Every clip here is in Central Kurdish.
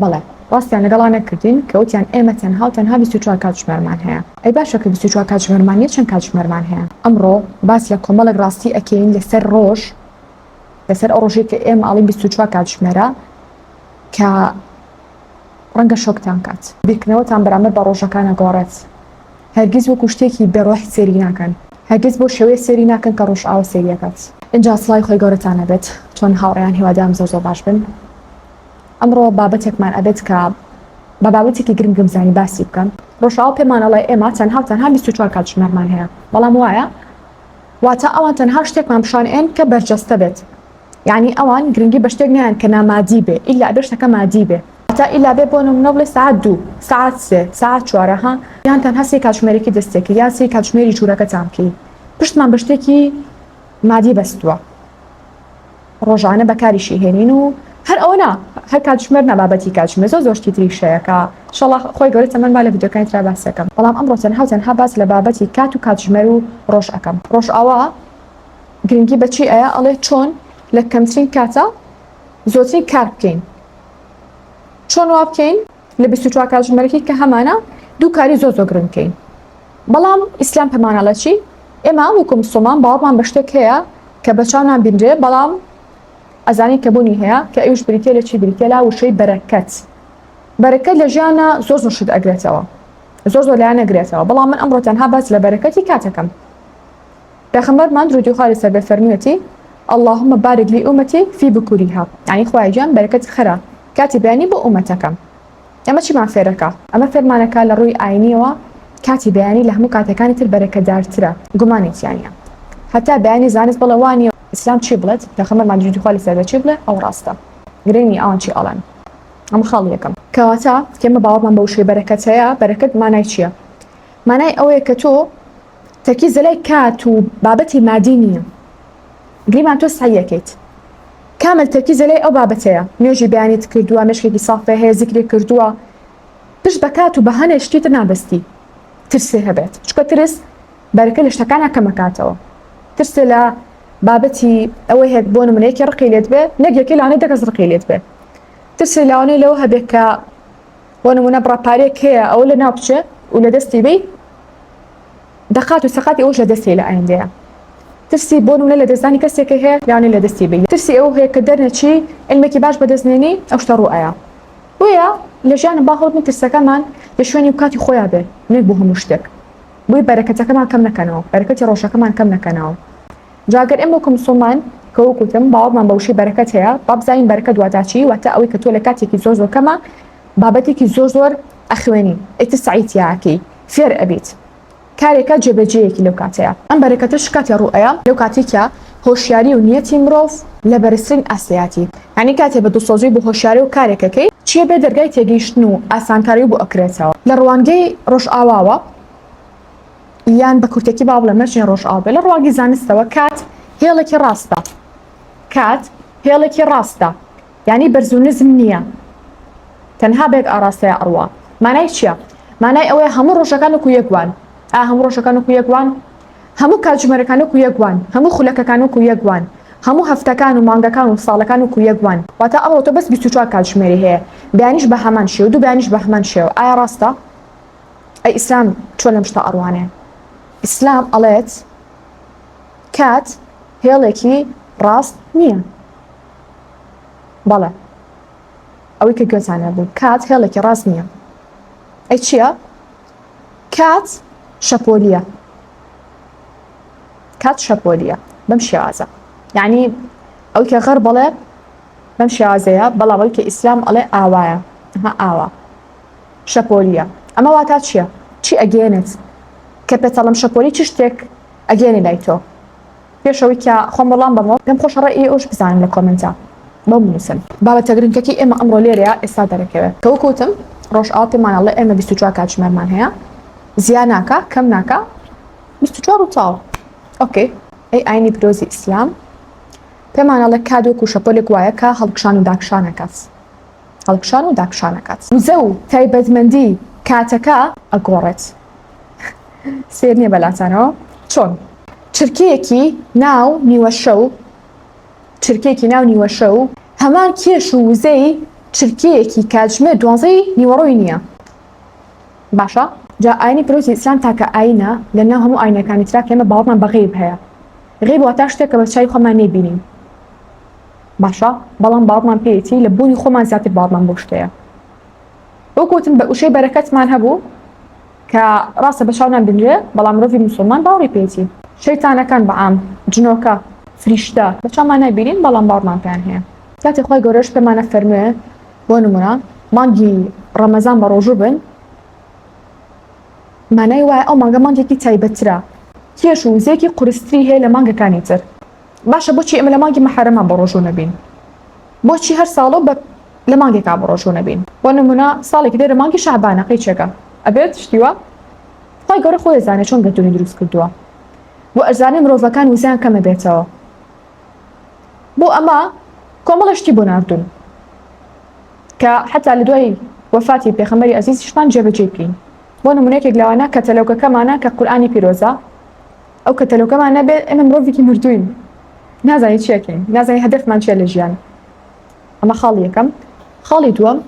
بەڵێ ڕاستیان لەگەڵا نەکردین کە وتیان ئێمە تەنها و تەنها بیست و چوار کاتژمێرمان هەیە ئەی باشە کە بیست و چوار کاتژمێرمان نیە چەند کاتژمێرمان هەیە ئەمڕۆ باس لە کۆمەڵێک ڕاستی ئەکەین لەسەر ڕۆژ لەسەر ئەو ڕۆژێک کە ئێمە ئاڵین بیست و چوار کاتژمێرە کە ڕەنگە شۆکتان کات بیرکردنەوەتان بەرامبەر بە ڕۆژەکانە گۆڕێت هەرگیز وەکو شتێکی بێڕۆح سێری ناکەن هەرگیز بۆ شێوەیە سێری ناکەن کە ڕۆژئاوا سێریەکەت ئینجا سڵای خۆی گەورەتان نەبێت چۆن هاوڕێیان هیوادارم زۆر زۆر باش بن ئەمڕۆ بابەتێکمان ئەبێت کە بە بابەتێکی گرنگ گەمزانی باسی بکەم ڕۆژاوا پێمان ئەڵێ ئێمە تەنها و تەنها 24 کاتژمێرمان هەیە بەڵام وایە واتە ئەوان تەنها شتێکمان پیشان ئێن کە بەرجەستە بێت یعنی ئەوان گرنگی بە شتێک نیان کە نامادی بێ ئیلا ئەبێ شتەکە مادی بێ تا ئیلا بێ بۆ نمونە بڵێ سعات دوو سعات سێ سعات چوارە ها یان تەنها سێ کاتژمێرێکی دەستێکی یان سێ کاتژمێری ژوورەکەتان بکەی پشتمان بە شتێکی مادی بەستووە ڕۆژانە بەکاریشی هێنین و هەر ئەوە نا هەر کاتژمێر نابابەتی کاتژمێر زۆر زۆر شتی تری شەیەکە شەڵا خۆی گەورە تەمەن با لە ڤیدیۆکانی ترا باس دەکەم بەڵام ئەمڕۆ تەنها و تەنها باس لە بابەتی کات و کاتژمێر و ڕۆژ ئەکەم ڕۆژئاوا گرنگی بەچی ئەیە ئەڵێ چۆن لە کەمترین کاتە زۆرترین کار بکەین چۆن وا بکەین لە بیست و چوار کاتژمێرەکەی کە هەمانە دوو کاری زۆر زۆر گرنگ بکەین بەڵام ئیسلام پەمانە لە چی ئێمە وەکو مسلمان باوەڕمان بە شتێک هەیە کە بە چاو نابینرێ بەڵام ئەزانین کە بوونی هەیە کە ئەویش بریتە لە چی بریتە لە وشەی بەرەکەت بەرەکەت لە ژیانە زۆر زۆر شت ئەگرێتەوە زۆر زۆر لایەن نەگرێتەوە بەڵام من ئەمڕۆ تەنها باس لە بەرەکەتی کاتەکەم پێخەمبەرمان درودی خوا لەسەر بێ فەرموویەتی، اللهم بارک لامتی فی بکورها یانی خوایە گیان بەرەکەت خەرە کاتی بەیانی بۆ ئومەتەکەم ئەمە چیمان فێرەکا؟ ئەمە فێرمانەکا لە ڕووی ئاینیەوە کاتی بەیانی لە هەموو کاتەکانی تر بەرەکەدارترە گومانی تیانیە هەتا بەیانی زانست بڵێ وانیە ئیسلام چی بڵێت پێخەمەرمان درودی خوا لەسەر بێ چی بڵێ ئەوە ڕاستە گرنگ نیە ئەوان چی ئەڵێن ئەمە خاڵی یەکەم کەواتە ئێمە باوەڕمان بە وشەی بەرەکەت هەیە بەرەکەت مانای چیە؟ مانای ئەوەیە کە تۆ تەرکیز لەلای کات و بابەتی مادی نییە گریمان تۆ سەعی ئەکەیت کامل تەرکیز لەلای ئەو بابەتەیە نوێژی بەیانیت کردووە مێشکێکی سافێ هەیە زیکری کردووە پشت بە کات و بەهەنێ شتی تر نابەستی ترسێ هەبێت چکە ترس بەرەکە لە شتەکانە کەمەکاتەوە ترسێ لە بابەتی ئەوەی هەیە بۆ نمونەیەکی ڕقی لێت بێ نەک یەکەی لەوانەیە دە کەس ڕقی لێت بێ ترسێ لەوانەیە لەوە هەبێت کە بۆ نمونە بڕە پارەیەک هەیە ئەوە لە ناو بچێ و لە دەستی بی دەقات و سەقاتی ئەوش لە دەستی لە ئایندەیە ترسی بۆ نمونە لە دەستدانی کەسێکی هەیە یانە لە دەستی بی ترسی ئەو هەیە کە دەرنەچی علمێکی باش بەدەستنێنی ئەو شتە ڕوو ئایا بۆیە لە ژیانە با هەڵبن ترسەکەمان لە شوێنی و کاتی خۆیان بێ نەک بۆ هەموو شتێک بۆی بەرەکەتەکەمان کەم نەکەنەوە بەرەکەتی ڕۆژەکەمان کەم نەکەنەوە. جا گەر ئێمە وەکو مسوڵمان کە وەک وتم باوەڕمان بە وشەی بەرەکەت هەیە با بزانین بەرەکەت واتا چی واتا ئەوەی کە تۆ لە کاتێکی زۆر زۆر کەمە بابەتێکی زۆر زۆر ئەخوێنی ئیتر سەعی تیا ئەکەی فێر ئەبیت کارێکە جێبەجێیەکی لەو کاتەیە ئەم بەرەکەتەش کاتێ ڕوو ئەیا لەو کاتێی کە هۆشیاری و نیەتی مرۆڤ لە بەرزترین ئاستیاتی یانی کاتێ بە دڵسۆزی بۆ هۆشیاری و کارێکەکەی چیە بێ دەرگای تێگەیشتن و ئاسانکاری بۆ ئەکرێتەوە لە ڕوانگەی ڕۆژئاواوە یان بە کورتێکی با بڵێم نەچین ڕۆژئاو بێ لە ڕواگی زانستەوە کات هێڵێکی ڕاستە کات هێڵێکی ڕاستە ینی بەرز و نزم نییە تەنها بێک ئاراستەیە ئەڕوا مانای چییە مانای ئەوەیە هەموو ڕۆژەکان و کویەکوان ئا هەموو ڕۆژەکان و کویەکوان هەموو کاتژمێرەکان و کویەکوان هەموو خولەکەکان و کویەکوان هەموو هەفتەکان و مانگەکان و ساڵەکان و کویەکوان واتە ئەڕۆ تۆ بەس 24 کاتژمێری هەیە بەیانیش بە هەمان شێو دوو بەیانیش بە هەمان شێو ئایا ڕاستە ئەی ئیسلام چۆن لەم شتە ئەڕوانێ؟ ئیسلام ئەڵێت کات هێڵێکی ڕاست نییە. بەڵێ ئەوەی کە گوێتان لێ بوو کات هێڵێکی ڕاست نییە. ئەی چییە؟ کات شەپۆلییە. کات شەپۆلییە بەم شێوازە. یعنی ئەوی کە غەر بەڵێ بەم شێوازەیە بەڵام ئەوی کە ئیسلام ئەڵێ ئاوایە ها ئاوا. شەپۆلیە ئەمە واتا چیە چی ئەگێنێت کە پێتەڵم شەپۆلی چ شتێک ئەگێنێ لای تۆ پێش ئەوەی کە خۆم وەڵام بەمەوە پێم خۆشە ڕێ ی ئەوش بزانم لە کۆمێنتا بۆم بنوسن. بابەتە گرنکەکی ئێمە ئەمڕۆ لێرەیە ئێستا دەرەکەوێ کە وەکو وتم ڕۆژئاوا پێمان ئەڵێ ئێمە بیست و چوار کاتژمێرمان هەیە زیا ناکا کەم ناکا بیست و چوار و تاو ئۆکەی ئەی ئاینی پیرۆزی ئیسلام پێمان ئەڵێ کات وەکو شەپۆلێک وایە کە هەڵکشان و داکشان ئەکات هەڵکشان و داکشان ئەکات. وزە و تایبەتمەندی کاتەکە ئەگۆڕێت. سەیر نییە بەلاتانەوە چۆن چرکەیەکی ناو نیوەشەو چرکەیەکی ناو نیوەشەو هەمان کێش و وزەی چرکەیەکی کاتژمێر دوانزەی نیوەڕۆی نییە. باشە جا ئاینی پیرۆزی ئیسلام تاکە ئاینە لە ناو هەموو ئاینەکانی ترا کە ئێمە باوەڕمان بە غەیب هەیە. غەیب واتا شتێک کە بە چاوی خۆمان نەیبینین. باشە بەڵام باوەڕمان پێیەتی لە بوونی خۆمان زیاتر باوەڕمان بەو شتەیە وەک وتم بە وشەی بەرەکەتمان هەبوو کە ڕاستە بە چاو نابینرێ بەڵام مرۆڤی موسڵمان باوەڕی پێیەتی شەیتانەکان بە عام جنۆکە فریشتە بە چاومان نابینین بەڵام باوەڕمان پێیان هەیە کاتێ خۆی گەورەش پێمانە فەرموێ بۆ نمونە مانگی ڕەمەزان بە ڕۆژوو بن مانای وایە ئەو مانگە مانگێکی تایبەترە کێش و وزەیەکی قورستری هەیە لە مانگەکانی تر باشە بۆچی ئێمە لە مانگی مەحەرەمان بە ڕۆژوو نەبین بۆچی هەر ساڵۆ بە لە مانگێکا بە ڕۆژوو نەبین بۆ نمونە ساڵێکی دێرە مانگی شەعبانە قەی چێکە ئەبێت شتیوە خی گەورە خۆی زانێ چۆن گەردونی دروست کردووە بۆ ئەزانێ مرۆڤەکان وزیان کەمە بێتەوە بۆ ئەمە کۆمەڵە شتی بۆ نردون کە حتا لە دوای وەفاتی پێخەمەری ئەزیزیشمان جێبەجێ بکەین بۆ نمونێکێک لەوانە کە تەلەوکەکەمانە کە قورآانی پیرۆزە ئەو کەتەلۆکەمان نەبێت ئێمە مرۆڤێکی مردووین نازانین چی ئەکەین نازانین هەدەفمان چیە لە ژیان ئەمە خاڵی یەکەم خاڵی دووەم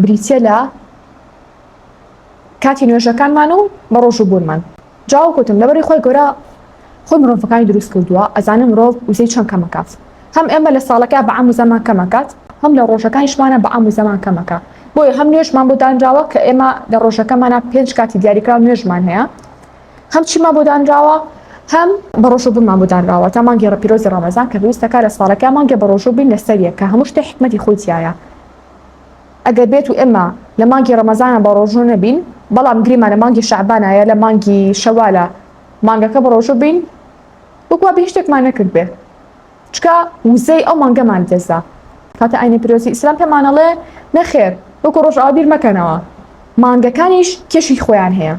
بریتە لە کاتی نوێژەکانمان و بە ڕۆژ و بوونمان جاو کوتم لەبەری خۆی گەورە خۆی مرۆڤەکانی دروست کردووە ئەزانم مرۆڤ وزەی چەند کەمەکات هەم ئێمە لە ساڵەکە بە عام و زەمان کەمەکات هەم لە ڕۆژەکانیشمانە بە عام و زەمان کەمەکە بۆیە هەم نوێژمان بۆ دانراوە کە ئێمە لە ڕۆژەکەمانە پێنج کاتی دیاریکراو نوێژمان هەیە هەم چیمان بۆ دانراوە هەم بەڕۆژوو بوونمان بۆ دانراوە تا مانگی ڕەپیرۆزی ڕەمەزان کە پێویستە کارە ساڵەکە مانگێ بەڕۆژوو بین لەسەر یەک کە هەموو شتێ حیکمەتی خۆی تیایە ئەگەر بێت و ئێمە لە مانگی ڕەمەزانە بەڕۆژوو نەبین بەڵام گریمان لە مانگی شەعبانە یا لە مانگی شەوالە مانگەکە بەڕۆژوو بین وەک وا بێ هیچ شتێکمان نەکردبێ. چکە وزەی ئەو مانگەمان دەزا کاتە ئاینی پیرۆزی ئیسلام پێمانەڵێ نەخێر وەکو ڕۆژئاوا بیر مەکەنەوە مانگەکانیش کێشی خۆیان هەیە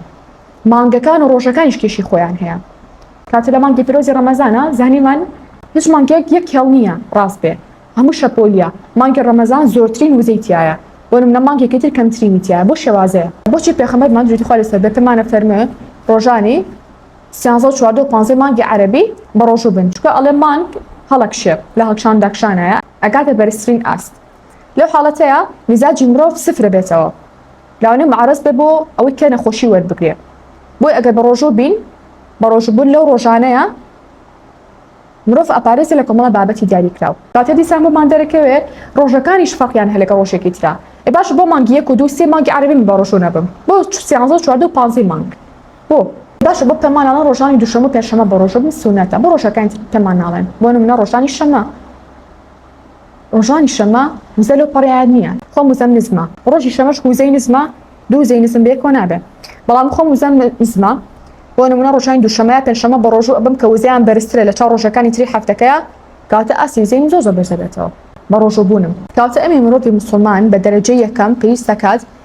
مانگەکان و ڕۆژەکانیش کێشی خۆیان هەیە کاتە لە مانگی پیرۆزی ڕەمەزانە زانیمان هیچ مانگێک یەک کێڵ نییە ڕاست بێ هەموو شەپۆلیە مانگی ڕەمەزان زۆرترین وزەی تایە وەرم لە مانگێکی تر کەمترینی تایە بۆ شێوازەیە بۆچی پێخەمەرمان جوتی خوا لەسەر بێ پێمانە فەرمێ ڕۆژانی سیانزە و چواردە و پانزەی مانگی عەرەبی بەڕۆژوو بن، چونکە ئەڵێ مانگ هەڵە کشێ و لە هەڵکشان داکشانایە ئەگاتە بەرزترین ئاست، لەو حاڵەتەیا میزاجی مرۆڤ سفر ئەبێتەوە لەوانەیە معرض بێ بۆ ئەوەی کە نەخۆشی وەربگرێ بۆیە ئەگەر بەڕۆژوو بین بەڕۆژوو بوون لەو ڕۆژانەیە مرۆڤ ئەپارێزێ لە کۆمەڵە بابەتی دیاری کراو. کاتێ دیسان بۆمان دەرەکەوێ ڕۆژەکانیش فەرقیان هەیە لەگەڵ ڕۆژێکی ترا ئێ باشە بۆ مانگی یەک و دوو سێ مانگی عەرەبی من بەڕۆژوو نەبم بۆ سیانزە و چواردە و پانزەی مانگ؟ بۆ باشە بۆ پێماناڵێن ڕۆژانی دوشەمە و پێنجشەمە بە ڕۆژە بن سونەتە بۆ ڕۆژەکانی تر پێمان ناڵێن بۆ نمونە ڕۆژانی شەمە ڕۆژانی شەمە وزە لەو پەڕیان نییە خۆم وزەم نزمە ڕۆژی شەمەش وزەی نزمە دوو زەی نزم بێ کۆ نابێ بەڵام خۆم وزەم نزمە بۆ نمونە ڕۆژانی دوشەمەیە پێنجشەمە بە ڕۆژوو ئەبم کە وزەیان بەرزترە لە چاو ڕۆژەکانی تری هەفتەکەیە کاتە ئاستی وزەی زۆ زۆ بەرزە بێتەوە بە ڕۆژوو بوونم کاتە ئەمی مرۆڤی مسلمان بە دەرەجەی یەکەم پێویست دەکات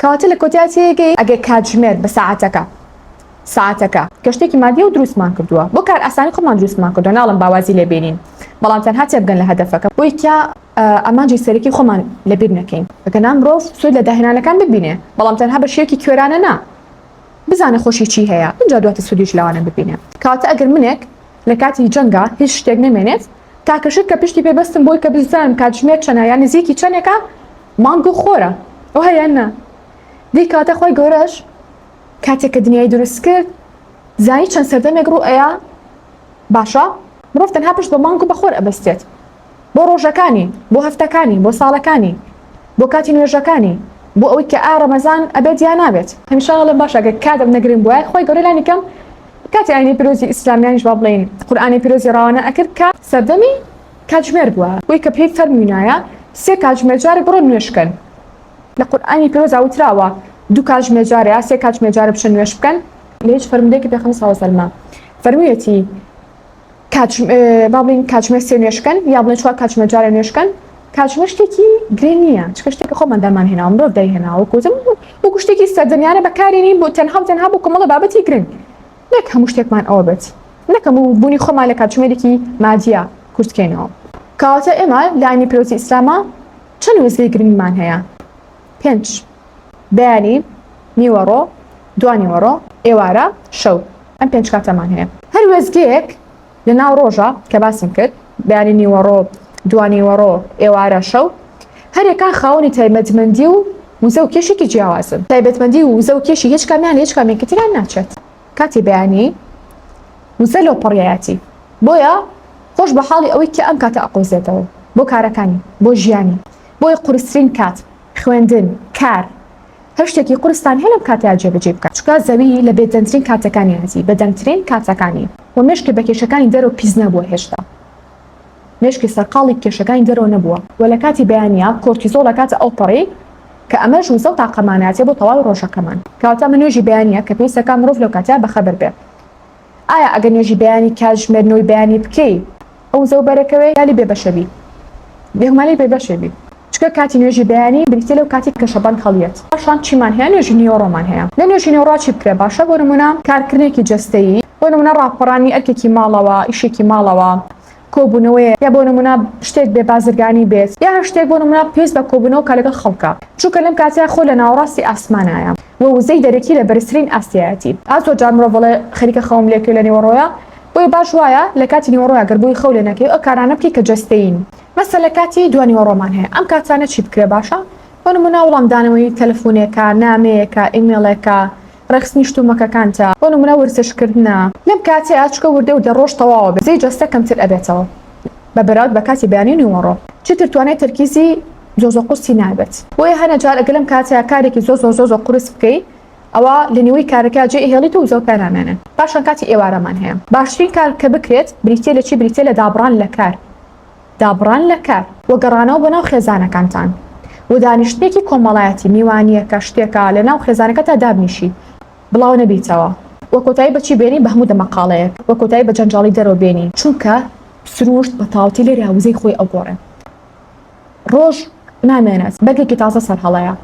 کەواتە لە کۆتای تێگەی ئەگەر کاتژمێر بە ساعەتەکە، ساعەتەکە، کە شتێکی مادیە و دروستمان کردووە، بۆ کارئاسانی خۆمان دروستمان کردووە، ناڵێم با وازی لێ بێنین، بەڵام تەنها تێبگەن لە هەدەفەکە، بۆی کە ئامانجی سەرەکی خۆمان لە بیر نەکەین، ئەگەنا مرۆڤ سوود لە داهێنانەکان ببینێ، بەڵام تەنها بە شێوەیەکی کوێرانە نا، بزانێ خۆشی چی هەیە، ئینجا دواتر سوودیش لەوانە ببینێ. کەواتە ئەگەر منێک لە کاتی جەنگا هیچ شتێک نەمێنێت، تاکە شت کە پشتی پێ بەستم بۆی کە بززانم کاتژمێر چەنە یان نزیکی چەنێکە مانگ گو خۆرە ئەو هەیە نا دی کاتە خۆی گەورەش کاتێک کە دنیای دروست کرد زانی چەند سەردەمێک ڕوو ئەیە باشە مرۆڤ تەنها پشت بە مانگ و بەخۆر ئەبەستێت بۆ ڕۆژەکانی بۆ هەفتەکانی بۆ ساڵەکانی بۆ کاتی نوێژەکانی بۆ ئەوەی کە ئایا ڕەمەزان ئەبێت یا نابێت. ان شاء اللە باشە گەر کاتم نەگرنگ بوایە خوای گەورە لانی کەم کاتی ئاینی پیرۆزی ئیسلامیانیش با بڵێین قورئانی پیرۆزی ڕەوانە ئەکرد کە سەردەمی کاتژمێر بووە بۆی کە پێی فەرموینایە سێ کاتژمێر جارێ بڕۆن نوێژ کەن لە قورئانی پیرۆزا وتراوە دوو کاتژمێر جارێ یا سێ کاتژمێر جارێ بچن نوێژ بکەن لە هیچ فەرمودەیەکی پێخەمبەر ساڵ سەلمە فەرمویەتی. با بڵین کاتژمێر سێ نوێشکەن یا بڵێ چوار کاتژمێر جارە نوێشکەن کاتژمێر شتێکی گرێ نییە چکە شتێکە خۆمان دامان هێناوە مرۆڤ دایهێناوە کوتم وەکو شتێکی سەردەمیانە بەکارێنی بۆ تەنها و تەنها بۆ کۆمەڵە بابەتی گرنگ نەک هەموو شتێکمان ئەوە بێت نەکەم و بوونی خۆمان لە کاتژمێرێکی مادیە کورتکەینەوە کاواتە ئێمە لانی پیرۆزی ئیسلامە چەند وزەی گرنگمان هەیە پێنج بەیانی، نیوەڕۆ، دوانیوەڕۆ، ئێوارە، شەو. ئەم پێنج کاتەمان هەیە. هەر وێستگەیەک لە ناو ڕۆژە کە باسم کرد، بەیانی، نیوەڕۆ، دوانیوەڕۆ، ئێوارە، شەو، هەریەکە خاوەنی تایبەتمەندی و وزە و کێشێکی جیاوازن. تایبەتمەندی و وزە و کێشی هیچ کامیان لە هیچ کامێکی تریان ناچێت. کاتی بەیانی، وزە لەوپەڕیایەتی. بۆیە خۆش بە حاڵی ئەوەی کە ئەم کاتە ئەقۆزێتەوە بۆ کارەکانی، بۆ ژیانی. بۆیە قورسترین کات خوێندن، کار، هەر شتێکی قورستان هەیە لەم کاتەیا جێبەجێی بکە، چونکە زەوی لە بێدەنگترین کاتەکانی هەتی، بەدەنگترین کاتەکانی، و مێشکی بە کێشەکانی دەرەوە پیس نەبووە هێشتا، مێشکی سەرقاڵی کێشەکانی دەرەوە نەبووە و لە کاتی بەیانیا کۆرتیزۆڵ ئەکاتە ئەوپەڕی کە ئەمەش وزە و تاقەمانەتیە بۆ تەواوی ڕۆژەکەمان کەواتە ئەمە نوێژی بەیانیە کە پێویستەکە مرۆڤ لەو کاتەیا بەخەبەر بێ. ئایا ئەگەر نوێژی بەیانی کاتژمێر نۆی بەیانی بکەی ئەو زەو بەرەکەوێ یالی بێ بەشە بی؟ بێگومانی بێ بەشێ بی چکە کاتی نوێژی بەیانی بریتیە لەو کاتی کە شەبەنگ هەڵیەت پاشان چیمان هەیە نوێژی نیوەڕۆمان هەیە لە نوێژی نێوڕا چی بکرێ باشە بۆ نمونە کارکرنێکی جەستەیی بۆ نمونە ڕاپەڕانی ئەرکێکی ماڵەوە ئیشێکی ماڵەوە کۆبوونەوەیە یا بۆ نموونە شتێک بێ بازرگانی بێت یا هەر شتێک بۆ نموونە پێویست بە کۆبوونەوە کە لەگەڵ خەڵکە چونکە لەم کاتەیا خۆ لە ناوەڕاستی ئاسمانایە و وزەی دەرەکی لە بەرزترین ئاستیایەتی ئا زۆر جار مرۆڤ ئەڵێ خەریکە خەوم لێ کرد لە نیوەڕۆیا بۆیە باش وایە لە کاتی نیوەڕۆیا گەر بووی خەو لێ نەکەی و ئە کارانە بکەی کە جەستەیین مەسەلە کاتی دوانیوەڕۆمان هەیە ئەم کاتانە چی بکرێ باشە بۆ نموونە وڵامدانەوەی تەلەفوونێکە نامەیەکە ئیمێڵێکە ڕێکخستنی شت و مەکەکانتە بۆ نمونە ورتش کردنە لەم کاتەیا چکە وردە وردە ڕۆژ تەواوە بێ زەی جەستە کەمتر ئەبێتەوە بە بەراورد بە کاتی بەیانی و نیوەڕۆ چیتر توانای تەرکیزی زۆزۆ قورسی نابێت بۆیە هەنە جار ئەگەر لەم کاتەیا کارێکی زۆزۆ زۆزۆ قورس بکەی ئەوا لە نیوەی کارەکەیا جێ ئەهێڵیت و زۆر پێنامێنێ پاشان کاتی ئێوارەمان هەیە باشترین کار کە بکرێت بریتیە لە چی بریتیە لە دابڕان لە کار دابڕان لە کار و گەڕانەوە بۆ ناو خێزانەکانتان و دانیشتنێکی کۆمەڵایەتی، میوانییەکە، شتێکە لە ناو خێزانەکەتدا دابنیشی، بڵاو نەبیتەوە و کۆتایی بە چی بێنی، بە هەموو دەمەقاڵەیەک و کۆتایی بە جەنجاڵی دەرەوە بێنی، چونکە سرووشت بە تاوتی لێرە وزەی خۆی ئەگۆڕێ، ڕۆژ نامێنێت، بەرگێکی تازە سەر هەڵەیە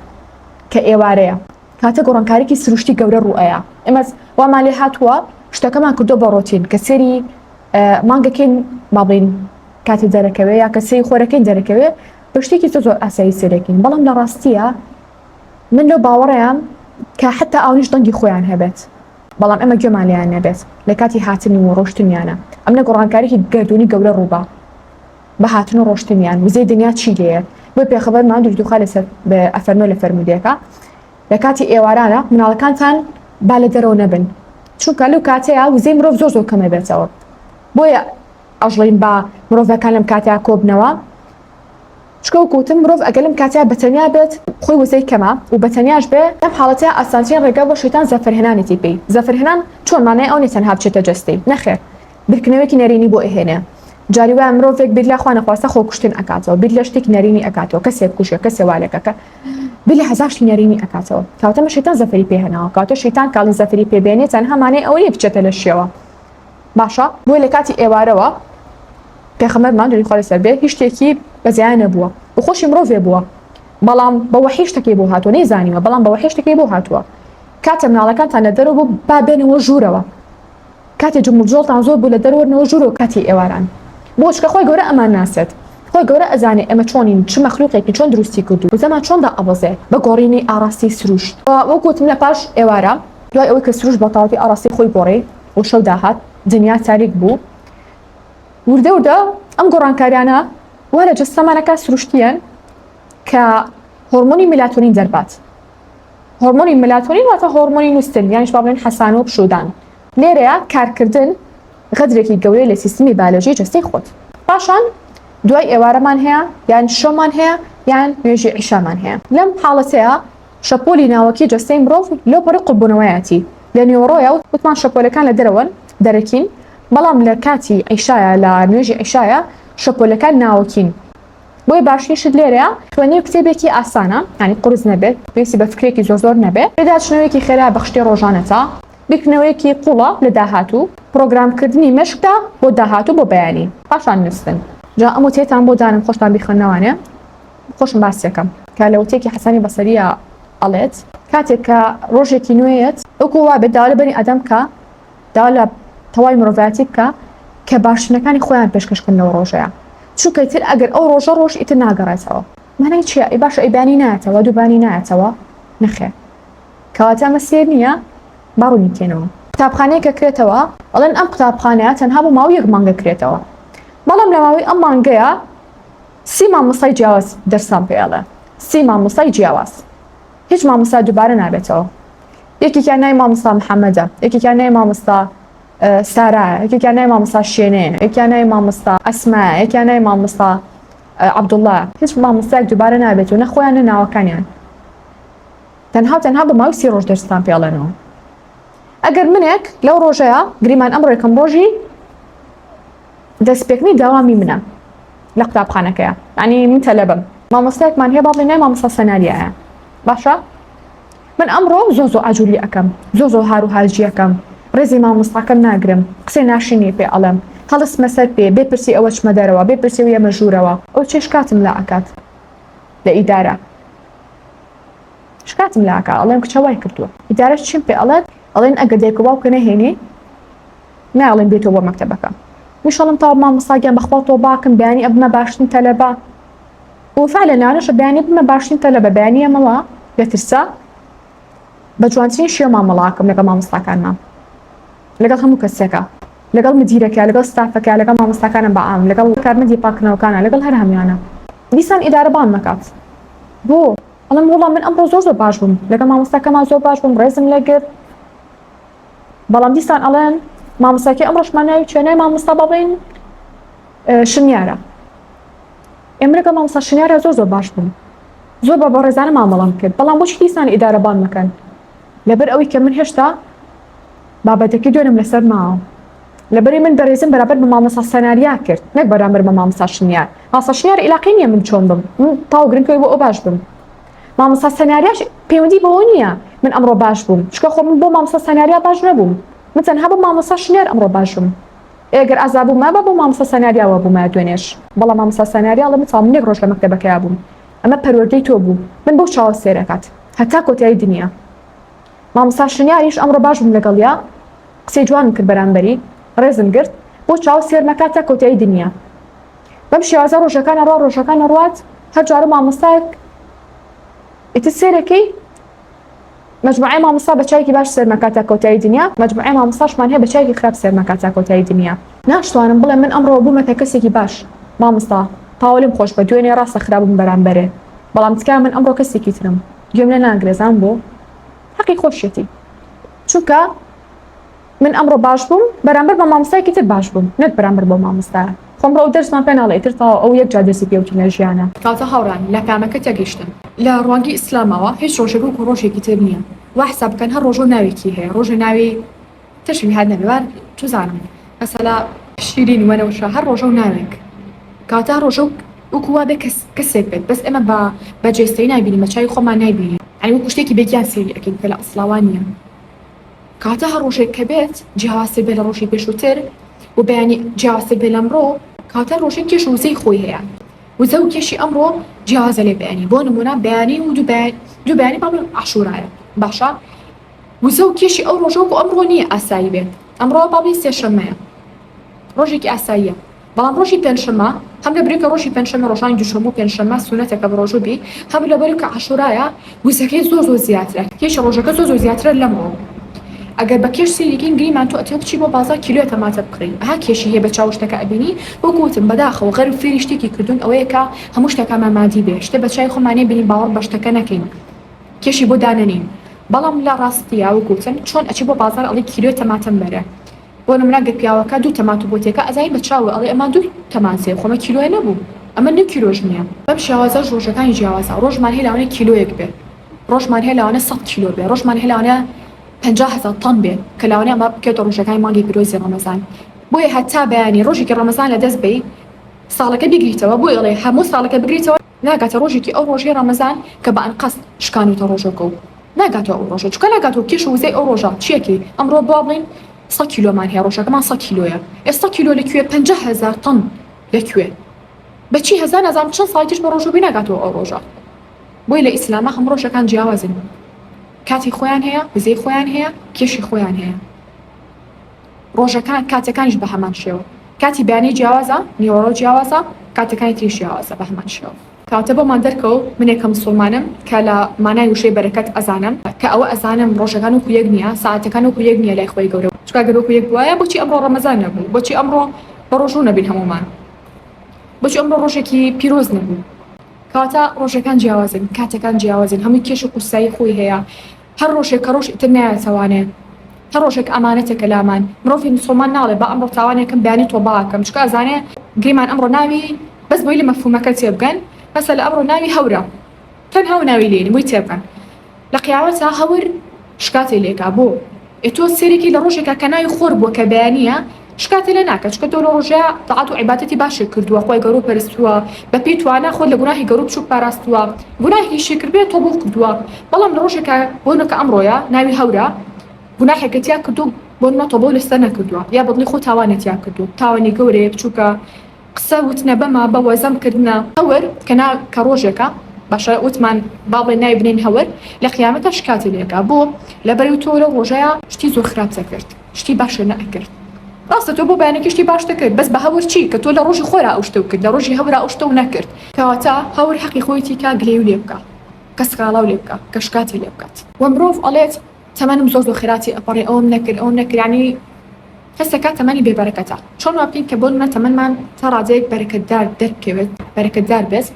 کە ئێوارەیە، کاتێ گۆڕانکاریی سرووشتی گەورە ڕوو ئەیا، ئێمەش وامان لێ هاتووە، شتەکەمان کردووە بە ڕۆتین، کە سێری. مانگەکەین مابین کاتێ دەرەکەوێ یا کە سێی خۆرەکەین دەرەکەوێ بە شتێکی زۆ زۆر ئاسایی سێرەکەین بەڵام لە ڕاستیە من لەو باوەڕیان کە حتا ئاونیش دەنگی خۆیان هەبێت بەڵام ئەمە گوێمان لێیان نەبێت لە کاتی هاتنی و ڕۆشتنیانە ئەم لە گۆڕانکارێکی گردردونی گەورە ڕووبە بە هاتن و ڕۆشتنیان وزەی دنیا چی لێیە بۆی پێخەبەر مادوش دوخا لەسەر ئەفەرمە لە فەرمودەکە لە کاتی ئێوارانە مناڵەکانتان با لە دەرەوە نەبن چونکە لەو کاتەیە وزەی مرۆڤ زۆر زۆر کەمە بێتەوە بۆیە ئەژڵین با مرۆڤەکان لەم کاتە کۆبنەوە چکەو کوتم مرۆڤ ئەگە لەم کاتە بەتەنیا بێت خۆی وزەی کەمە و بەتەنیاش بێ لەم حاڵەتە ئاسانترین ڕێگە بۆ شەیتان زەفرهێنانێتی پێی زەفرهێنان چۆن مانای ئەو نێ تەنها بچێتە جەستەی نەخێر بیرکردنەوەیەکی نەرێنی بۆ ئەهێنێ جاری وایە مرۆڤێک بیر لە خوا نەخواستە خۆکوشتن ئەکاتەوە بیر لە شتێکی نەرێنی ئەکاتەوە کەسێک کوژە کەسێ وا لەکە کە بیر لە هەزار شتی نەرێنی ئەکاتەوە کەواتە مە شەیتان زەفەری پێ هێناوە کەواتە شەیتان کاڵی زەفەری پێ بێنێ تەنها مانای ئەوە نیە بچێتە لە شێوە باشە بۆیە لە کاتی ئێوارەوە پێخەمەرمان دوری خوا لەسەر بێ هیچ شتێکی بەزیان نەبووە و خۆشی مرۆڤێ بووە بەڵام بە وەحی شتەکەی بۆ هاتووە نەیزانیوە بەڵام بە وەحی شتەکەی بۆ هاتووە کاتە مناڵەکانتان لە دەرەوە بوو با بێنەوە ژوورەوە کاتێ جموجۆڵتان زۆر بوو لە دەر وەرنەوە ژورۆ کاتی ئێواران بۆ چکە خۆی گەورە ئەمان ناسێت خۆی گەورە ئەزانێ ئێمە چۆنین چ مەخلوقێکی چۆن دروستی کردوو وزەمان چۆن دا ئەبەزێ بە گۆڕینی ئاڕاستەی سروشت وە وەک وتم لە پاش ئێوارە دوای ئەوەی کە سروشت بە تەواوەتی ئاڕاستەی خۆی گۆڕی و شەو داهات دنیا تاریک بوو وردە وردە ئەم گۆڕانکاریانە وا لە جەستەمانەکە سروشتیەن کە هۆڕمۆنی میلاتۆنین دەربات. هۆرمۆنی ملاتۆنین واتە هۆرمۆنی نوستن یانیش با بڵێن حەسان و پشودان لێرەیە کارکردن غەدرێکی گەورەی لە سیستمی بالۆژی جەستەی خۆت پاشان دوای ئێوارەمان هەیە یان شەومان هەیە یان نوێژی عیشامان هەیە لەم حاڵەتەیە شەپۆلی ناوەکی جەستەی مرۆڤ لەو پەڕی قوڵبوونەوەیەتی لە نێوەڕۆیە و وتمان شەپۆلەکان لە دەرەوەن دەرەکین بەڵام لە کاتی عیشایە لە نوێژی عیشایە شەپۆلەکان ناوەکین بۆیە باشترین شت لێرەیە خوێنەوەی کتێبێکی ئاسانە ینی قرس نەبێت پێویستی بە فکرێکی زۆر زۆر نەبێت پێداچنەوەیەکی خێرا بە شتێ ڕۆژانەتە بیرکردنەوەیەکی قوڵە لە داهاتوو پرۆگرامکردنی مشکدا بۆ داهاتوو بۆ بەیانی پاشان نووسن جا ئەم وتێتان بۆ دانم خۆشتان بیخوێنەوانێ خۆشم باسیەکەم کە لە وتێکی حەسانی بەسەریە ئەڵێت کاتێک کە ڕۆژێکی نوێیەت ئەوکو وابێت داوا لە بەنی ئادەم کە داوا لە تەواوی مرۆڤایەتی بکە کە باشترینەکانی خۆیان پێشکەش بکەن لەو ڕۆژەیا چونکە ئیتر ئەگەر ئەو ڕۆژە ڕۆژ ئیتر ناگەڕێتەوە مانای چییە ئەی باشە ئەی بانی نایەتەوە دووبانی نایەتەوە نەخێر کەواتە ئەمە سێر نییە با ڕوونی بکەینەوە قوتابخانەیە کە کرێتەوە ئەڵێن ئەم قوتابخانەیە تەنها بۆ ماوەی یەک مانگە کرێتەوە بەڵام لە ماوەی ئەم مانگەیە سی مامۆستای جیاواز دەرسان پێڵە سی مامۆستای جیاواز هیچ مامۆستا دوبارە نابێتەوە یەکێکیان ناوی مامۆستا محەمەدە یەکێکیان ناوی مامۆستا سارایە یەکێکیان ناوی مامۆستا شێنەیە یەکیان ناوی مامۆستا ئەسمایە یەکیان ناوی مامۆستا عەبدوڵڵا هیچ مامۆستایەک دوبارە نابێت و نە خۆیان نە ناوەکانیان تەنها و تەنها بە ماوەی سی ڕۆژ دەرستان پێڵێنەوە ئەگەر منێک لەو ڕۆژەیە گریمان ئەم ڕێکم ڕۆژی دەسپێکنی داوامی منە لە قوتابخانەکەیە ینی من تەلەبم مامۆستایەکمان هەیە باڵێ نای مامۆستا سەناریایە باشە من ئەمڕۆ زۆ زۆ ئاجولی ئەەکەم زۆ زۆ هار و هاجیەکەم ڕێزی مامۆستاکەم ناگرم قسەی ناشرینی پێ ئەڵم هەڵس مەسەر پێ بێ پرسی ئەوە چمە دەرەوە بێ پرسی و یەمە ژوورەوە ئەو چێ شکاتم لا ئەکات لە ئیدارە شکاتم لاکە ئەڵێم کچەوای کردووە ئیدارە چیم پێ ئەڵێت ئەڵێن ئەگەر دێکە باوکە نەهێنی نایەڵێم بێیتەوە بۆ مەکتەبەکە وشەڵم تاو مامۆستا گیان بەخوا تۆباکم بەیانی ئەبمە باشترین تەلەبە وفا لە نانەشە بەیانی بمە باشترین تەلەبە بەیانی ئەمەوە لە ترسا بە جوانترین شێوە مامەڵاکەم لەگەڵ مامۆستاکانمان لەگەڵ هەموو کەسێکە لەگەڵ مدیرەکە لەگەڵ ستافەکە لەگەڵ مامۆستاکانم بە ئام لەگەڵ کارمەندی پاکردنەوەکانە لەگەڵ هەر هەموانە دیسان ئیدارە بان نەکات بۆ ئەڵم وڵام من ئەمڕۆ زۆر زۆر باش بووم لەگەڵ مامۆستاکەمان زۆر باش بووم ڕێزم لەگرت بەڵام دیسان ئەڵێن مامۆستاکی ئەمڕۆشمان ناوی چێ نای مامۆستا بەڵین شنیارە ئێمرەکە مامۆستا شنیارە زۆر زۆر باش بوون زۆر بە بەڕێزانە مامەڵام کرد بەڵام بۆچی دیسان ئیدارەبان مەکەن لەبەر ئەوەی کە من هێشتا بابەتەکە دوێنم لەسەر ماوە لەبەری من بەرێزم بەرابەر بە مامۆسا سەناریا کرد نەک بەرامبەر بە مامۆسا شنیار ماسا شنیار علاقی نییە من چۆن بم تاو گرنگەوەی بۆ ئەو باش بم مامۆستا سەناریاش پەیوەندی بەوە نییە من ئەمڕۆ باش بووم چکە خۆ من بۆ مامۆستا سەناریا باش نەبووم من تەنها بۆ مامۆستا شنیار ئەمڕۆ باش بووم ئێگەر ئازا بووم مابا بۆ مامۆستا سەناریاوە بوومە دوێنێش بەڵام مامۆستا سەناریا لە من ساڵ منێک ڕۆژ لە مەکتەبەکەیا بووم ئەمە پەروەردەی تۆ بوو من بەو چاوە سێرەکات هەتا کۆتایی دنیا مامۆستا شنیاریش ئەمڕۆ باش بووم لەگەڵیا قسەی جوانم کرد بەرامبەری ڕێزم گرت بۆ چاو سێر نەکاتە کۆتایی دنیا بەم شێوازە ڕۆژەکان ئەڕوا ڕۆژەکان ئەڕوات هەر جارە مامۆستایەک ئیتر سێرەکەی مجموعه مامۆستا بە چایکی باش سەرمەکات تا کۆتایی دنیا مجموعه مامۆستاشمان هەیە بە چایکی خراپ سەرمەکات تا کۆتایی دنیا ناشتوانم بڵێ من ئەمڕۆ بوومەتە کەسێکی باش مامۆستا تاوە لێم خۆش بە دوێنێ ڕاستە خراپم بەرامبەرێ بەڵام تکا من ئەمڕۆ کەسێکی ترم گوێم لە ناگرێزان بۆ حەقی خۆشیەتی چونکە من ئەمڕۆ باش بووم بەرامبەر بە مامۆستایەکی تر باش بووم نەک بەرامبەر بەو مامۆستایە خۆم ڕۆ ئەو دەرسمان پێ ناڵێ ئیتر تەواو ئەو یەک جار دەستی پێ وتم لە ژیانا. کاتە هاوڕێیان لە کامەکە تێگەیشتن لە ڕوانگەی ئیسلامەوە هیچ ڕۆژێک وەکو ڕۆژێکی تر نیە وا حساب بکەن هەر ڕۆژەو ناوێکی هەیە ڕۆژێ ناوی تشبی هات نەبێ وا چزانم مەسەلا شیرین وەنەوشە هەر ڕۆژەو ناوێک کاتە ڕۆژەو وەکو وا بێ کەس کەسێک بێت بەس ئێمە بە بە جێستەیی نایبینین بە چاوی خۆمان نایبینین یانی وەکو شتێکی بێ گیان سەیری ئەکەین کە لە ئەسڵا وا نیە. کاتە هەر ڕۆژێک کە بێت جیاوازتر بێت لە ڕۆژی پێشووتر و بەیانی جیاوازتر بێت لەمڕۆ کاتە ڕۆژێک کێش وزەی خۆی هەیە وزە و کێشی ئەمڕۆ جیاوازە لێ بەیانی بۆ نمونە بەیانی و دووبیانی بەڵێ عاشورایە باشە وزە و کێشی ئەو ڕۆژۆک و ئەمڕۆ نییە ئاسایی بێت ئەمڕۆ باڵی سێشەمەیە ڕۆژێکی ئاساییە بەڵام ڕۆژی پێنجشەممە هەم لەبری کە ڕۆژی پێنجشەممە ڕۆژانی دووشەممە و پێنجشەممە سوونەتە کە بەڕۆژوو بی هەم لەبەر کە عاشوورایە وزەکەی زۆر زۆر زیاترە کێشی ڕۆژەکە زۆر زۆر زیاترە لەمڕۆ ئەگەر بە کێش سەیری کەین گریمان تۆ ئەتەوێ بچی بۆ بازاڕ کیلۆیەک تەماتە بکڕی ئەها کێشی هەیە بە چاوو شتەکە ئەبینی وەکو وتم بەداخەوە غەرب فێری شتێکی کردوون ئەوەیە کە هەموو شتەکانمان مادی بێ شتێ بە چاوی خۆمان نەیبینین باوەڕ بە شتەکە نەکەین کێشی بۆ دانەنێین بەڵام لە ڕاستیا وەکو وتم چۆن ئەچی بۆ بازاڕ ئەڵێی کیلۆی تەماتەم بەرە بۆ نمونە گەر پیاوەکە دوو تەماتو بۆ تێکا ئەزانی بە چاوو ئەڵێ ئەمە دوو تەمانسەیە خۆ ئەمە کیلۆیە نەبوو ئەمە نیو کیلۆش نیە بەم شێوازەش ڕۆژەکانی جیاوازە ڕۆژمان هەیە لەوانەیە کیلۆیەک بێ ڕۆژمان هەیە لەوانە سەد کیلۆ بێ ڕۆژمان هەیە لەوانە پەنجا هەزار تەن بێ کە لەوانەیە ئەمە بکەوێتە ڕۆژەکانی مانگی پیرۆزی ڕەمەزان بۆیە هەتا بەیانی ڕۆژێکی ڕەمەزان لە دەست بەی ساڵەکە بیگریتەوە بۆی ئەڵێ هەموو ساڵەکە بگریتەوە ناگاتە ڕۆژێکی ئەو ڕۆژەی ڕەمەزان کە بە ئەنقەست شکانۆتە ڕۆژەکەو ناگاتەوە ئەو ڕۆژە چونکە ناگاتەوە کێشە وزەی ئەو ڕۆژە چیەتی ئەمڕۆ با بڵێن سەد کیلۆمان هەیە ڕۆژەکەمان سەد کیلۆیە ئێ سەد کیلۆ لە کوێ پەنجا هەزار تەن لە کوێ بە چی هەزار نازانم چەند ساڵی تریش بە ڕۆژە بووی ناگاتەوە ئەو ڕۆژە بۆی لە ئیسلامە هەموو ڕۆژەکان جیاوازن کاتی خۆیان هەیە وزەی خۆیان هەیە کێشی خۆیان هەیە ڕۆژەکان کاتەکانیش بە هەمان شێوە کاتی بەیانی جیاوازە نیوەڕۆ جیاوازە کاتەکانی تریش جیاوازە بە هەمان شێوە کاتە بۆمان دەرکەو منێ کە مسوڵمانم کە لە مانای وشەی بەرەکەت ئەزانم کە ئەوە ئەزانم ڕۆژەکان وەکو یەک نیە سەعاتەکان وەکو یەک نیە لای خوای گەورە چونکە گەر وەکو یەک بوایە بۆچی ئەمڕۆ ڕەمەزان نەبوو بۆچی ئەمڕۆ بە ڕۆژوو نەبین هەموومان بۆچی ئەمڕۆ ڕۆژێکی پیرۆز نەبوو کەواتە ڕۆژەکان جیاوازن کاتەکان جیاوازن هەمووی کێش و قورسایی خۆی هەیە. هەر ڕۆژێک کە ڕۆژ ئیتر نایەتەوانێ هەر ڕۆژێک ئامانەتێکە لامان مرۆڤی موسوڵمان ناڵێ با ئەمڕۆ تاوانێکم بەیانی تۆبە ئەکەم چکە ئەزانێ گریمان ئەمڕۆ ناوی بەس بۆی لە مەفهومەکە تێبگەن مەسەلە ئەمڕۆ ناوی هەورە تەنها و ناوی لێنی بۆی تێبگەن لە قیامەتا هەور شکاتی لێکا بۆ ئێ تۆ سێرێکی لە ڕۆژێکا کە ناوی خۆر بووە کە بەیانییە شکاتی لێ ناکە چونکە تۆ لۆ ڕۆژیا تاعەت و عیباتەتی باشێ کردووە خۆی گەڕو پەرستووە بە پێی توانا خۆت لە گوناهی گەڕو بچوک پاراستووە گوناهێکی شیکرد بێ تۆ بۆ کردووە بەڵام لە ڕۆژێکا بۆ نەکە ئەمڕۆیە ناوی هەورە گوناحێکە تیا کردو بۆ نە تۆبەو لە سەر نەکردووە یا بەدڵی خۆ تاوانێ تیا کردو تاوانی گەورەیە بچوکە قسە وتنە بەمە بە وەزەم کردنە هەور کە نا کە ڕۆژێکە باشە وتمان با بڵێ ناوی بنێن هەور لە قیامەتا شکاتی لێکە بۆ لە بەرەو تۆ لەو ڕۆژەیا شتی زۆر خراپتە کرد. شتی باشە نە ئەکرد. ڕاستە تۆ بۆ بەیانێکی شتی باش دەکرد بەس بە هەور چی کە تۆ لە ڕۆژی خۆرا ئەو شتەو کرد لە ڕۆژی هەورا ئەو شتەو نەکرد. کەواتە هەور حەقی خۆیەتی کا گلەیو لێ بکا کە سکاڵاو لێ بکا کە شکاتی لێ بکات. وە مرۆڤ ئەڵێت تەمەنم زۆر زۆر خێراتی ئەپەڕێ ئەوەم نەکرد ئەوەم نەکرد یانی حس دەکات تەمەنی بێ بەرەکەتە چۆن وا بکەین کە بۆ نمونە تەمەنمان تا ڕادەیەک بەرەکەتدار دەربکەوێت بەرەکەتدار بێت.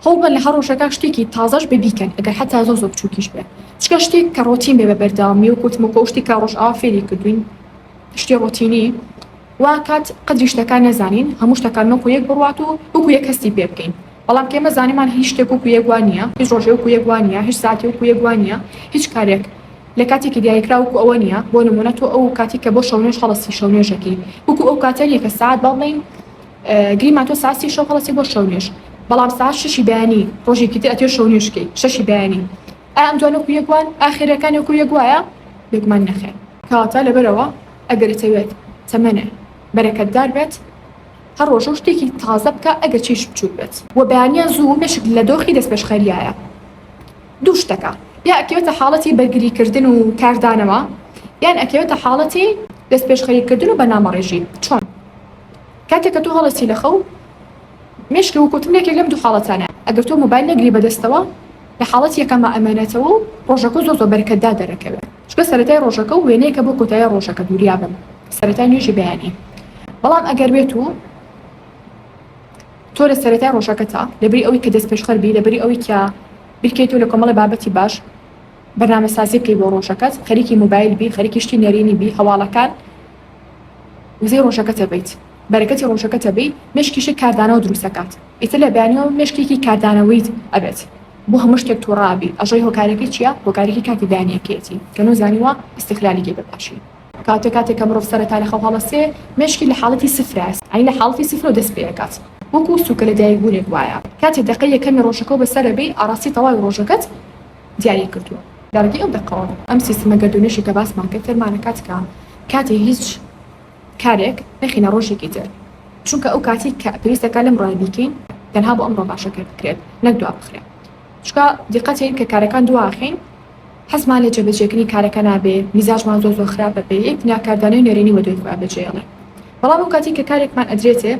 هەوڵ بەن لە هەر ڕۆژەکا شتێکی تازەش بێ بیکەن ئەگەر حەتا زۆر زۆر بچوکیش بێ چکە شتێک کە ڕۆتین بێ بە بەردەوامی وەک وتم وەکو ئەو شتی کە ڕۆژئاوا فێری کردوین شتی ڕۆتینی وا کات قەدری شتەکان نەزانین هەموو شتەکان وەکو یەک بڕوات و وەکو یەک هەستی پێ بکەین بەڵام کە ئێمە زانیمان هیچ شتێک وەکو یەک وا نیە هیچ ڕۆژێ وەکو یەک وا نیە هیچ ساتێ وەکو یەک وا نیە هیچ کارێک لە کاتێکی دیاریکراو وەکو ئەوە نیە بۆ نموونە تۆ ئەو کاتی کە بۆ شەونوێژ هەڵەسی شەونوێژەکەی وەکو ئەو کاتە نیە کە سەعات با بڵێین گریمان تۆ ساسی شەو هەڵەسی بۆ شەو نوێژ بەڵام ساعەت شەشی بەیانی ڕۆژێکی تر ئەتوێ شەو نوێژ کەی شەشی بەیانی ئا ئەم دوانە وەکو یەک وان ئا خێرەکانی وەکو یەک وایە بێگومان نەخێر کەواتە لەبەرەوە ئەگەر ئەتەوێت تەمەنێ بەرەکەتدار بێت هەر ڕۆژەو شتێکی تازە بکە ئەگەر چیش بچووک بێت وە بەیانیان زوو مێشک لە دۆخی دەستپێشخەریایە دوو شتەکە یا ئەکەوێتە حاڵەتی بەرگری کردن و کاردانەوە یان ئەکەوێتە حاڵەتی دەستپێشخەری کردن و بەنامەڕێژی چۆن کاتێک کە تۆ هەڵەسی لە خەو مێشکە وکوتم لەکێک لەم دوو حاڵەتانە ئەگەر تۆ موبایل نەگری بەدەستەوە لە حاڵەت یەکەمە ئەمێنێتەوە و ڕۆژەکە زۆ زۆ بەرکەتدا دەرەکەوێت چکە سەرەتای ڕۆژەکە و وێنەیەکە بۆ کۆتایی ڕۆژەکە دووریابم سەرەتای نوێژی بەیانی بەڵام ئەگەر بێت و تۆ لە سەرەتای ڕۆژەکە تا لەبری ئەوی کە دەست پێشخەر بی لەبری ئەوی کە بیرکەیتەوە لە کۆمەڵی بابەتی باش بەنامە سازی بکەی بۆ ڕۆژەکەت خەریکی موبایل بی خەریکی شتی نەرێنی بی هەواڵەکان وزەی ڕۆژەکەتە بیت بەرەکەتی ڕۆژەکەتە بی مێشکیشت کاردانەوە دروست ئەکات ئیتر لە بەیانیەوە مێشکێکی کاردانەوەیت ئەبێت بۆ هەموو شتێک توڕە ئەبی ئەژۆی هۆکارەکەی چیە هۆکارەکەی کاتی بەیانیەکەیەتی کە نۆ زانیوە ئیستغلالی کەی بەباشی کاتێ کاتێک کە مرۆڤ سەرەتا لەخەو هەڵەسێ مێشکی لە حاڵەتی سفرە یانی لە حاڵەتی سفرەوە دەست پێ ئەکات وەکو سوکە لەدایک بونێک وایە کاتێ دەقەی یەکەمی ڕۆژەکەو بەسەرە بی ئاڕاستی تەواوی ڕۆژەکەت دیاری کردووە. لە ڕگەی ئەو دەقەوە ئەم سیستمە گەردوونەشی کە باسمان کرد فێرمانە کات کە کاتی هیچ کارێک نەخینە ڕۆژێکی تر چونکە ئەو کاتی کە پێویستە کار لەم ڕۆیە بیکەین تەنها بۆ ئەمڕۆ باشە کە بکرێت نەک دوا بخرێ چونکە دیقەتین کە کارەکان دوا ئەخەین حەزمان لە جێبەجێکردنی کارەکە نابێ میزاجمان زۆر زۆر خراپە بێ یەک دنیا کاردانەوەی نەرێنی وەدوای خۆیان بەجێیەڵێ بەڵام ئەو کاتی کە کارێکمان ئەدرێتێ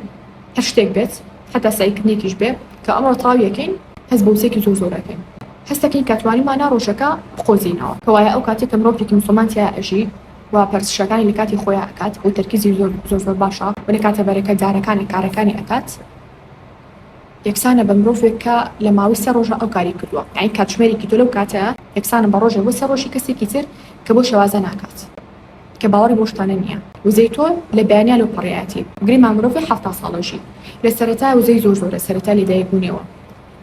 هەر شتێک بێت حەتا سەعیکردنێکیش بێ کە ئەمڕۆ تەواوی ئەکەین هەست بە وزەێکی زۆر زۆر ئەکەین هەست ئەکەین کە توانیومانە ڕۆژەکە بقۆزینەوە کەوایە ئەو کاتەی کە مرۆڤێکی موسڵمان تیایا ئەژی و پەرستشەکانی لە کاتی خۆیا ئەکات و تەرکیزی زۆر زۆر زۆر باشە و لە کاتە بەرەکە دارەکانە کارەکانی ئەکات یەکسانە بە مرۆڤێک کە لە ماوەی سێ ڕۆژە ئەو کاری کردووە یانی کاتژمێرێکی تۆ لەو کاتەیا یەکسانە بە ڕۆژێ بۆ سێ ڕۆژی کەسێکی تر کە بۆ شێوازە ناکات. کە باوەڕی بەو شتانە نییە وزەی تۆ لە بەیانیا لەو پەڕیایەتی گرێ مام مرۆڤی حەفتا ساڵە ژی لە سەرەتایە وزەی زۆر زۆرە سەرەتای لەدایک بوونێوە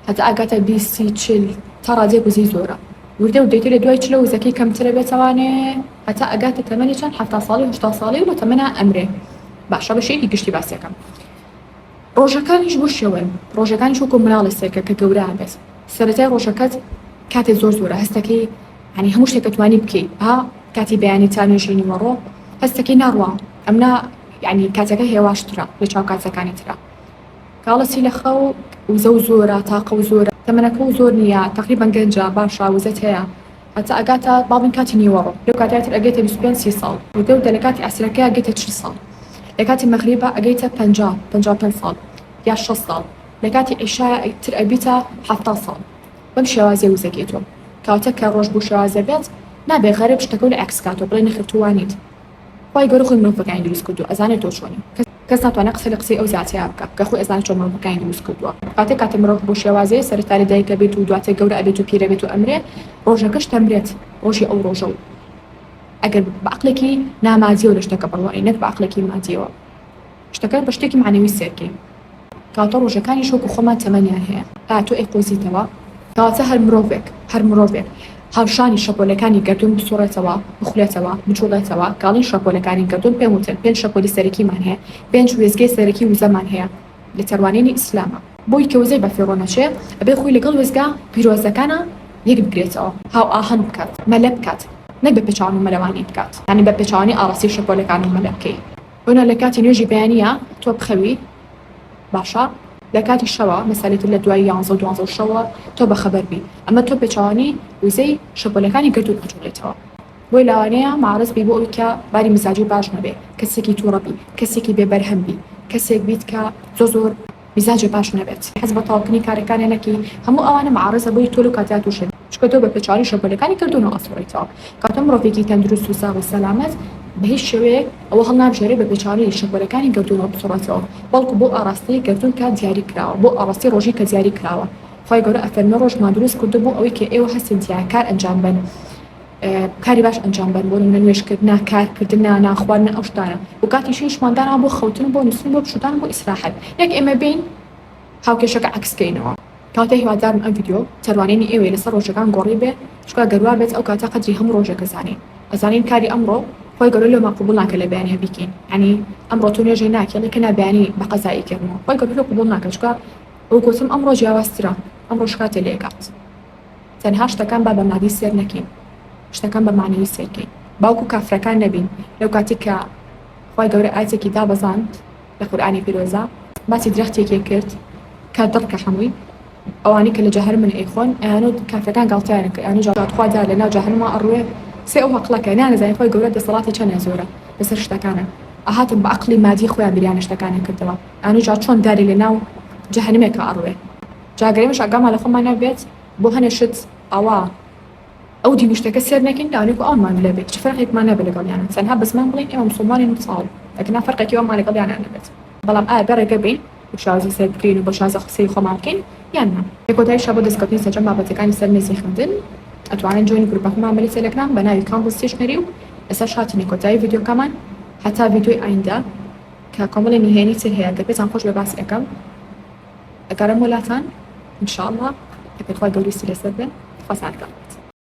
هەتا ئەگاتە بیست سی چل تا ڕادەیەک وزەی زۆرە وردە وردەی تۆ لە دوای چلە وزەکەی کەمترە بێتەوانێ هەتا ئەگاتە تەمەنی چەند حەفتا ساڵی هەشتا ساڵی و لە تەمەنا ئەمرێ باشە بە شێکی گشتی باسیەکەم ڕۆژەکانیش بۆ شێوەن ڕۆژەکانیش وەکو مناڵی سێکە کە گەورە بێت سەرەتای ڕۆژەکەت کاتێ زۆر زۆرە هەستەکەی یانی هەموو شتێک ئەتوانی بکەی ها کاتی بەیانی تا نوێژی نیوەڕۆ هەستەکەی ناڕوا ئەمنا یانی کاتەکە هێواشترە لە چاو کاتەکانی ترا کاڵەسی لە خەو وزە و زۆرە تاقە و زۆرە تەمەەکە و زۆر نییە تقریبان گەنجە باشە وزەت هەیە هەتا ئەگاتە باڵین کاتی نیوەڕۆ لە کاتاتر ئەگەێتە 25 سی ساڵ و دەو دە لە کاتی ئەسرەکە گەێتە چ ساڵ لە کاتی مەغریبە ئەگەیتە 55 ساڵ یا 6 ساڵ لە کاتی عیشایە تر ئەبیتە ه ساڵ بەم شێوازیە وزەک یەتۆ کاتەک کە ڕۆژ بو شێواز دەبێت نابێ غەرب شتەکەو لە عەکس کاتۆ بڵێ نەخێرتو وانیت خوای گەورە خۆی مرۆڤەکانی دروست کردو ئەزانێ تۆ چۆنی کەس ناتوانێ قسە لە قسەی ئەو زاتەیا بکا کە خۆی ئەزانێ چۆن مرۆڤەکانی دروست کردوە کاتەک کاتە مرۆڤ بو شێوازەیە سەرەتا لە دایک ئەبێت و دواتر گەورە ئەبێت و پیرە بێت و ئەمرێ ڕۆژەکەش دەمرێت ڕۆژی ئەو ڕۆژە و ئەگەر بە عەقلێکی نامادیەوە لە شتەکە بڕوانین نەک بە عەقلێکی مادیەوە. شتەکە بە شتێکی مەعنەوی سەیر کەین، کەواتە ڕۆژەکانیش وەکو خۆمان تەمەنیان هەیە، ئایا تۆ ئەیقۆزیتەوە؟ کەواتە هەر مرۆڤێک، هەر مرۆڤێک هاوشانی شەپۆلەکانی گەردوون بسوڕێتەوە، بخولێتەوە، بجوڵێتەوە، گاڵین شەپۆلەکانی گەردوون پێم وتن پێنج شەپۆلی سەرەکیمان هەیە، پێنج وێستگەی سەرەکی وزەمان هەیە لە تێڕوانینی ئیسلامە، بۆی کە وزەی بەفیڕۆ نەچێ ئەبێ خۆی لەگەڵ وێستگە پیرۆزەکانا یەک بگرێتەوە، هاوئاهەنگ بکات، مەلە بکات، نەک بە پێچەوانەو مەلەوانی بکات، یانی بە پێچەوانی ئاڕاستەی شەپۆلەکان و مەلە بکەی. ئۆنا لە کاتی نوێژی بەیانییە تۆ بخەوی باشە لە کاتی شەوە مەسالی تر لە دوای یانزە و دوانزە و شەوە تۆ بەخەبەر بی ئەمە تۆ پێچوانی وزەی شەپۆلەکانی گەردوون ئەجوڵێتەوە بۆی لاوانەیە مەعرەز بی بۆ ئەوی کە باری مزاجی باش نەبێ کەسێکی توڕە بی کەسێکی بێ بەرهەم بی کەسێک بیت کە زۆ زۆر میزاجێ باش نەبێت حەز بە تەواوکردنی کارەکانێ نەکەی هەموو ئەوانە معارەزە بۆی تۆ لەو کاتەیا توشن چونکە تۆ بە پێ چاوی شەپۆلەکانی کەرتۆنەوە ئەسڕیتەوە کاتۆ مڕۆڤێکی تەندروست و ساغ و سەلامەت بە هیچ شێوەیەک ئەوە هەڵنابژێرێ بە پێچاوی شەپۆلەکانی گەردوونەوە بسڕێتەوە بەڵکو بۆ ئاڕاستەی گەردوون کات دیاری کراوە بۆ ئاڕاستەی ڕۆژی کە دیاری کراوە خوای گەورە ئەفەرمێ ڕۆژمان دروست کردووە بۆ ئەوەی کە ئێوە هەستن تیایا کار ئەنجام بەن کاری باش ئەنجام بەن بۆ نمونە نوێژکرد نا کار کردن نا نانخوارد نا ئەو شتانە و کاتی شوی شمان دانا بۆ خەوتن بۆ نووسن بۆ پشودان بۆ ئیسراحەت یەک ئێمە بین هاوکێشەکە عکس کەینەوە کاتێ هیوادارم ئەم ڤیددیو تەروانینی ئێوەی لەسەر ڕۆژەکان گۆڕی بێ چکا گەروا بێت ئەو کاتە قەدری هەموو ڕۆژێکە زانین ئەزانین کاری ئەمڕۆ خۆی گەلۆ لۆ ماقبول ناکە لە بەیانە بیکەین ینی ئەمڕۆ تۆ نوێژێ ناکەڵی کە نابیانی بە قەزایی کردنەوە خۆی گەلۆ قبول ناکە چکا ئەو گوتم ئەمڕۆ جیاوازترە ئەمڕۆ شکاتێ لێکات تەنها شتەکان با بە مادی سێر نەکەین شتەکان بە مەعنەوی سێر کەین باوکو کافرەکان نەبین لەو کاتی کە خوای گەورە ئایەتێکی دابەزاند لە قورئانی پیرۆزە باسی درەختێکێ کرد کە دڕکە حەمووی ئەوانەی کە لە جەهەرمن ئەیخۆن ئەیانوت کافرەکان گاڵتەیانە کرد ئەیانوت جا خوا جا لە ناو جەهەنما ئەڕوێ سێ ئەو ئەقڵەکە نانەزانی خوای گەورە دەسەڵاتی چەنێ زۆرە لە سەر شتەکانا ئەهاتن بە ئەقڵی مادی خۆیان بیریان لە شتەکان ئەکردەوە ئەیانوت جا چۆن دارێ لە ناو جەهەنمێکا ئەڕوێ جا گەر ئێمەش ئاگامان لە خۆمان نەبێت بۆ هەنێ شت ئاوا ئەو دین و شتەکە سێر نەکەین تاوانێکو ئەوانمان لێ بێت چ فەرقێکمان نەبێت لەگەڵیان تەنها بەس من بڵێین ئێمە موسڵمانین و ساڵ ئەگەرنا فەرقێکی وەمان لەگەڵیانا نەبێت بەڵام ئایا بێ ڕێگە بین و شازی سەر بکەین و بە شازە سەیری خۆمان بکەین یان نا؟ لە کۆتاییشا بۆ دەستکەوتنی سەرجەم بابەتەکانی سەر مێزی خوێندن ئەتوانن جوێنی گروپەکەمان بن لە تێلەگرام بە ناوی کاندڵ ستیشنەری و ئێستاش هاتینە کۆتایی ڤیدیۆکەمان هەتا ڤیدیۆی ئایندە کە کۆمەڵی نهێنی تر هەیە گەر پێتان خۆش بێ باسی ئەکەم. ئەگەڕێمەوە لاتان ان شاءاللە ئەگەر خوای گەورەیستی لەسەر بێ خوازانەکەم بێت.